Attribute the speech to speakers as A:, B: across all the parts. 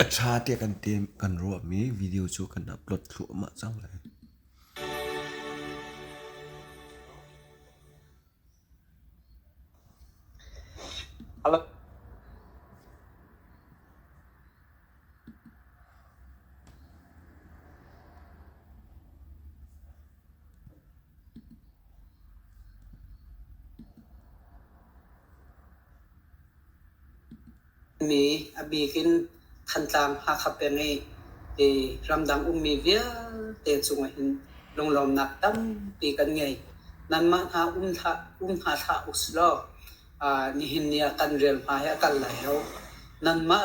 A: A ṭha tiah kan ruahmi video cu kan upload thluahmah cang lai. Mi a bik in Thantlang Hakha peng i ramdang ummi vialte cungah hin lunglawmnak tampi kan ngei. Nanmah hna um hna hlah usilaw nihin ni ah kan rel hna hi a kal lai lo. Nanmah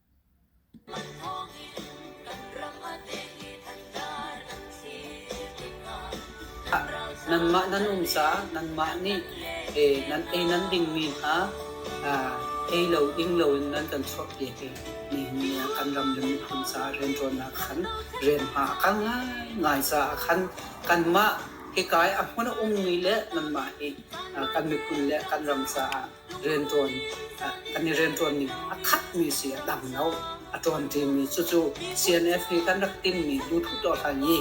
A: Nangmah nan um caah nangmah nih nan ei nan dingmi hna ei lo ding loin nan kan chuahpiak i nihin kan ram le miphun caah rianṭuannak khan rian hma a kal ngaingai caah khan kanmah hikai a hmun a ummi le nanmah hi kan miphun le kan ram caah rianṭuan kan i rianṭuanmi a khatmi si a dang lo. A ṭuanṭimi cucu CNF nih kan rak tinhmi Bluetooth dawhkan i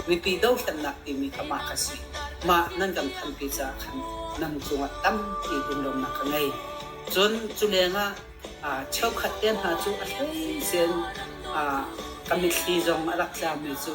A: mipi dohthlennak timi kha mah ka si. Mah nan kan thanpi caah khan nan cungah tampi rumronak ka ngei. Cun culeng ah cheukhat te hna cu a hleisin ka mitthli zong a rak tlami cu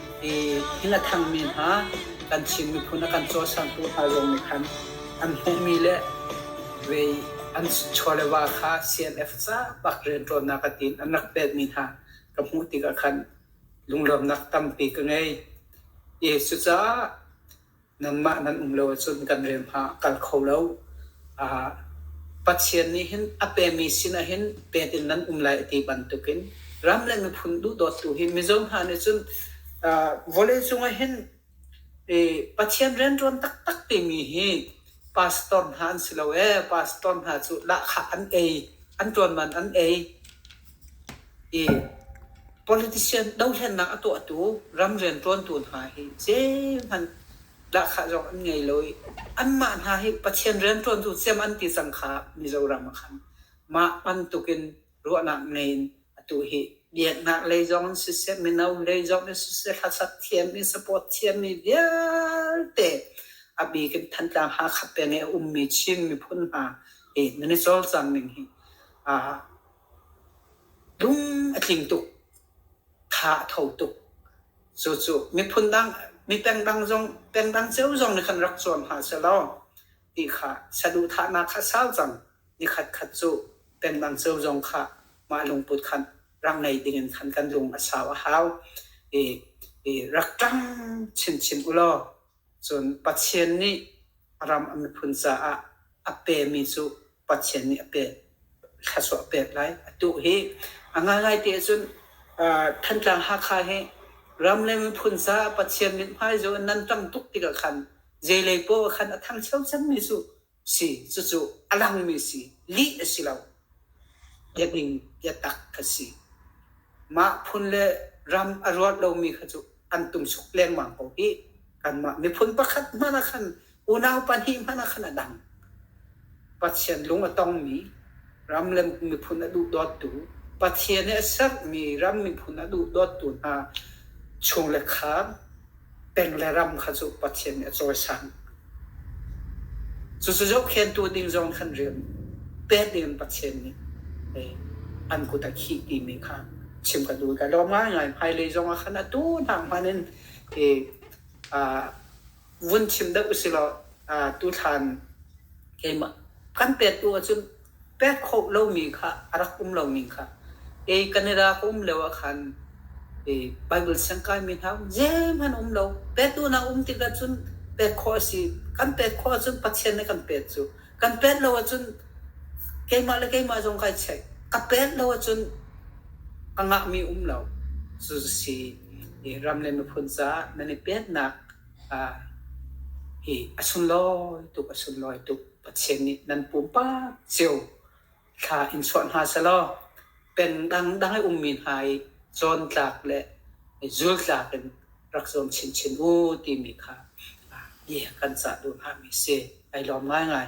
A: i thil a thangmi hna kan Chin miphun a kan cawasantu hna zong nih khan an hmuhmi le vei an chawlewa kha CNF bak rianṭuannak a tiin an rak pelmi hna ka hmuh tikah khan lunglawmnak tampi ka ngei. I cucaah nangmah nan um lo ahcun kan rem hlah kal kho lo. Uh, Pathian nih hin a pemi sinah hin pet in nan um lai ti bantukin ram le miphun duhdawtu hi mizo hna nih cun uh, vawlei cungah hin eh, Pathian riantuan taktak timi hi pastor hna an si lo e pastor hna cu lahkhah an ei an tuan man an ei Politician dohlennak a tuahtu ram rianṭuantu hna hi zeihmanh dahkhah zong an ngei lo i anmah hna hi Pathian rianṭuantu thiam an ti cang kha Mizoram ah khan mah bantukin ruahnak ngei in atu hi biaknak lei zong in siseh mino lei zong in siseh hlasat thiam i support thiammi vialte a bik in Thantlang Hakha peng i a ummi Chin miphun hna hi nan i cawlcang ning hi aa Lung a tling tuk, tha a tho tuk. Cucu miphun dang, mipengdang zong, pengdang cio zong nih khan rak zuam hna selaw ti kha saduhthahnak kha a sau cang. Nikhat khat cu pengdang cio zong kha mah lungput khan rak ngei dingin khan kan lung a sau a hau. I, i rak tlang chinchin ulaw cun Pathian nih ram a miphun caah a pe mi cu Pathian nih a pek thluachuah a pek lai. A tuh hi a ngaingai ti ahcun Thantlang Hakha hi ram le miphun caah Pathian mithmai cu nan ṭang tuk tikah khan zeilei poah khan a thang ṭhiamṭhiammi cu si cucu a langmi si lih a si lo biading biatak ka si mah phun le ram a ruat lomi kha cu an tum suk lengmang ko hi kanmah miphun pakhat hmanh ah khan unau pahnih hmanh a khan a dang Pathian lung a tongmi ram le miphun a duhdawttu Pathian i a sermi ram miphun a duhdawttu hna chung le khaan peng le ram kha cu Pathian nih a cawisan cucu zohkhentu ding zong kan rian pet ding Pathian nih an kut a khi timi kha chim ka duh ka lawm ngai ngai hmailei zong a khan atu hna hmanin vun chim deuh usilaw tuthlan keimah kan pek tu ahcun pek khawh lomi kha a rak um lomi kha kei kan i ra ka um lio ah khan Bible siangkaimi hna um zeim an um lo petu hna um tikah cun pek khawh a si kan pek khawh ahcun Pathian nih kan pek cu kan pek lo ahcun keimah le keimah zong kai check ka pek lo ahcun ka ngahmi um lo cusi ram le miphun caah nan i petnak hi a sunlawi tuk a sunlawi tuk Pathian nih nan pumpak cio thla in chuah hna selaw pen dangdang i ummi hna i cawn tlak le zul tlak in rak zuam chinchin u timi kha bia kan cah duh hngami si. Ai lawm ngaingai.